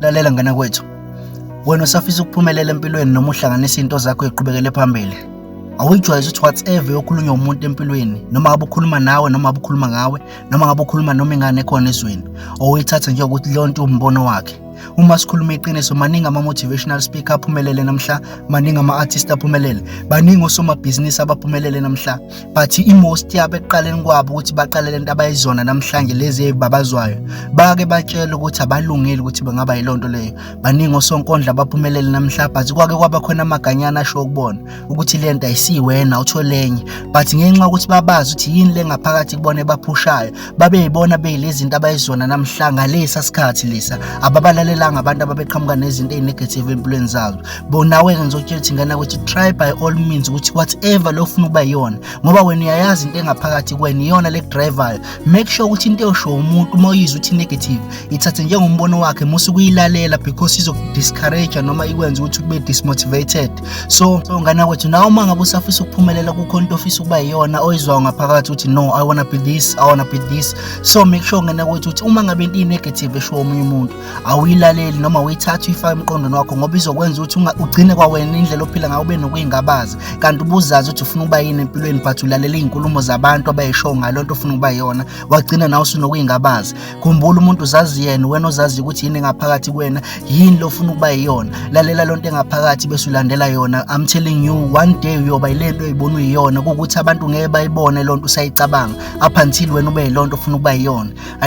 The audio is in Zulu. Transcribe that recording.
Lalela ngana kwethu. Wena usafisa ukuphumelela empilweni noma uhlanganisa into zakho eqhubekele phambili. Awuyijwayeze ukuthi whatever yokhulunywa umuntu empilweni noma ngabe ukhuluma nawe noma ngabe ukhuluma ngawe noma ngabe ukhuluma noma ingane ekhona ezweni owuyithatha nje ukuthi leyo nto umbono wakhe uma sikhuluma iqiniso maningi ama-motivational speaker aphumelele namhla maningi ama-artist aphumelele baningi osomabhizinisi abaphumelele namhla but i-most yabo ekuqaleni kwabo ukuthi baqale lento abayizona namhlanje lezi eyibabazwayo bake batshele ukuthi abalungile ukuthi bengaba yiloo nto leyo baningi osonkondla baphumelele namhla but kwake kwaba khona amaganyana asho ukubona ukuthi le nto ayisiwena utholenye but ngenxa yokuthi babazi ukuthi yini le ngaphakathi kubona ebaphushayo babeyibona beyilezinto abayizona namhla ngalesa sikhathi lesa ababalalelanga abantu ababeqhamuka nezinto ezinegative empilweni zazo bonawe ke ngizokutshela ukuthi ngana ukuthi try by all means ukuthi whatever lo ufuna ukuba yona ngoba wena uyayazi into engaphakathi kwena iyona le driver make sure ukuthi into eyosho umuntu uma uyizwa ukuthi negative ithathe njengombono wakhe musu kuyilalela because izoku discourage noma ikwenza ukuthi ube dismotivated so so ngane kwethu nawe uma ngabe usafisa ukuphumelela kukhona into ofisa ukuba yiyona oyizwayo ngaphakathi ukuthi no i wanna be this i wanna be this so make sure ngane kwethu ukuthi uma ngabe into i-negative eshiwo omunye umuntu awuyilaleli noma uyithatha uyifake emqondweni wakho ngoba izokwenza ukuthi ugcine kwawena indlela ophila ngayo ube nokuyingabazi kanti ubuzazi ukuthi ufuna ukuba yini empilweni but ulalela iy'nkulumo zabantu abayishoyo ngalo nto ofuna ukuba yona wagcina nawe usunokuyingabazi khumbula umuntu uzazi yena wena ozazi ukuthi yini engaphakathi kuwena yini lofuna ukuba yiyona lalela lonto engaphakathi bese ulandela yona i'm telling you one day uyoba yilento oyibona uyiyona kukuthi abantu ngeke bayibone lonto usayicabanga up until wena ube yilonto ofuna ukuba yiyona